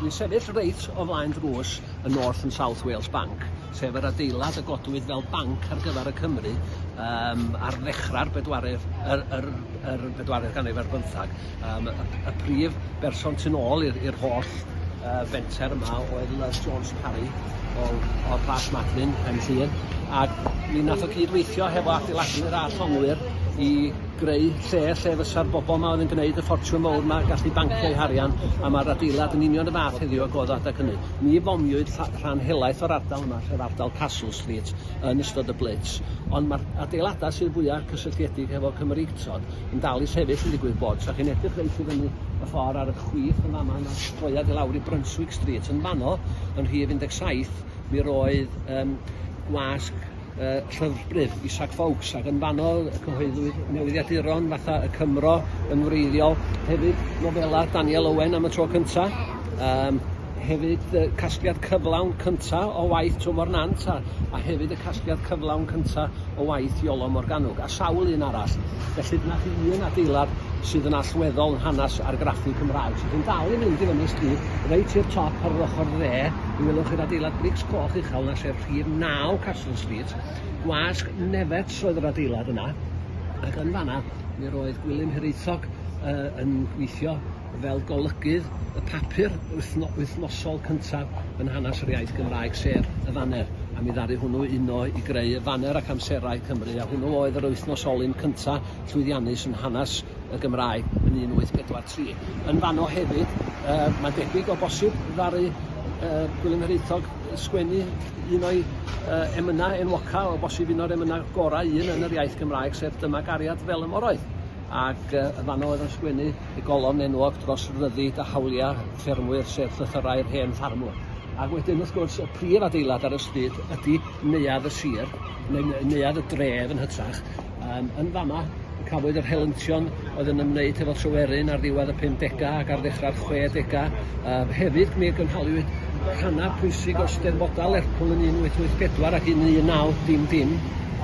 Dwi'n sefyll reit o flaen drws y North and South Wales Bank, sef yr adeilad y godwyd fel banc ar gyfer y Cymru um, ar ddechrau'r bedwaredd, yr, yr, yr bedwaredd ganrif ar bymthag. Um, y, y prif berson tu ôl i'r holl uh, fenter yma oedd Love Jones Parry o, o Plas Madlyn, yn Llŷn, a mi nath o cyd-weithio hefo adeiladu'r a llongwyr i greu lle lle fysa'r bobl yma oedd yn gwneud y ffortiwn mowr yma gallu bancio eu harian a mae'r adeilad yn union y fath heddiw ag oedd adeg hynny. Ni fomiwyd rhan helaeth o'r ardal yma, sef ardal Castle Street, yn ystod y blitz, ond mae'r adeiladau sydd fwyaf cysylltiedig hefo Cymreictod yn dal i sefyll yn digwydd bod. Os chi'n edrych reit i fyny y ffordd ar y chwith yn fama, yna droiad i lawr i Brunswick Street. Yn fanno, yn rhif 17, mi roedd um, gwasg uh, llyfrbrif Isaac Foulkes ac yn fanno y cyhoeddwyd newyddiaduron fatha y Cymro yn wreiddiol, hefyd nofela Daniel Owen am y tro cyntaf. Um, Hefyd y casgliad cyflawn cynta' o waith Twmor Nant a a hefyd y casgliad cyflawn cynta' o waith Iolo Morgannwg a sawl un arall. Felly dyna chi un adeilad sydd yn allweddol yn hanes argraffu Cymraeg. So chi'n dal i fynd i fyny stryd reit i'r top ar yr ochr dde, mi welwch chi'r adeilad brics coch uchel 'na sef rhif 9 Castle Street. Gwasg Nefets oedd yr adeilad yna ac yn fanna mi roedd Gwilym Hiraethog yy yn gweithio fel golygydd y papur wythno- wythnosol cyntaf yn hanes yr iaith Gymraeg, sef y Faner, a mi ddaru hwnnw uno i greu y Faner ac Amserau Cymru, a hwnnw oedd yr wythnos olyn cyntaf llwyddiannus yn hanes y Gymraeg yn 1843. Yn fanno hefyd, yy, mae'n debyg o bosib, ddaru yy Gwilym Hiraethog sgwennu un o'i yy emynau enwoca, o bosib un o'r emynau gorau un yn yr iaith Gymraeg, sef Dyma gariad fel y moroedd. Ac yy yn fanno oedd o'n sgwennu y golofn enwog dros ryddid a hawliau ffermwyr, sef llythyrau'r hen ffarmwr. Ac wedyn, wrth gwrs, y prif adeilad ar y stryd ydy neuadd y sir, neu neuadd y dref yn hytrach. Um, yn fama, cafwyd yr helyntion oedd yn ymwneud hefo Tryweryn ar ddiwedd y 50au ac ar ddechrau'r 60au. Um, hefyd, mi gynhaliwyd rhannau pwysig o Steddfodau Lerpwl yn 1884 ac yn 19 dim dim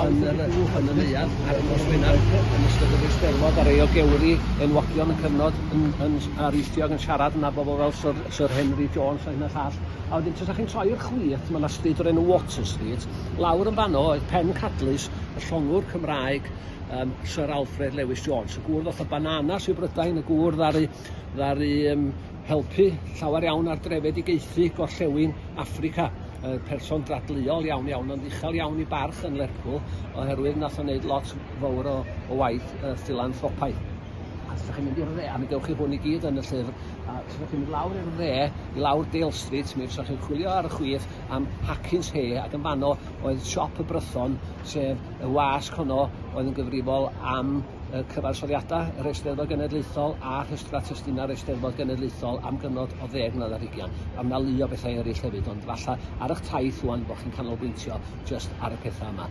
yn yr uwch, yn y neuadd, ar y nos Wener, yn ystod yr Eisteddfod, ar ei ogewri, enwogion yn cyfnod, yn, yn, ar Eastiog yn siarad yna, bobl fel Sir, Sir Henry Jones a hyn a llall. A wedyn, tasa chi'n troi i'r chwith, mae yna stryd o'r enw Water Street, lawr yn fanno oedd pen cadlys y llongwr Cymraeg, um, Sir Alfred Lewis Jones, y gŵr ddoth y bananas i Brydain, y gŵr ddaru ddaru um, helpu llawer iawn ar drefedigaethu gorllewin Africa. Uh, person dradleuol iawn iawn, ond uchel iawn i barch yn Lerpwl, oherwydd nath o'n neud lot fawr o, o waith uh, philanthropaidd. A os ydych chi'n mynd i'r dde, a mi dewch chi hwn i gyd yn y llyfr, a os ydych chi'n mynd lawr i'r dde, i lawr Dale Street, mi ydych chi'n chwilio ar y chwith am Hackins Hay, ac yn fanno oedd siop y Brython, sef Y wasg honno oedd yn gyfrifol am y cyfansoddiadau, yr Eisteddfod Genedlaethol a rhestrau testunau'r Eisteddfod Genedlaethol am gyfnod o ddeg mlynedd ar hugain, a mae 'na lu o bethau eraill hefyd, ond falle ar eich taith ŵan bod chi'n canolbwyntio jyst ar y pethau yma.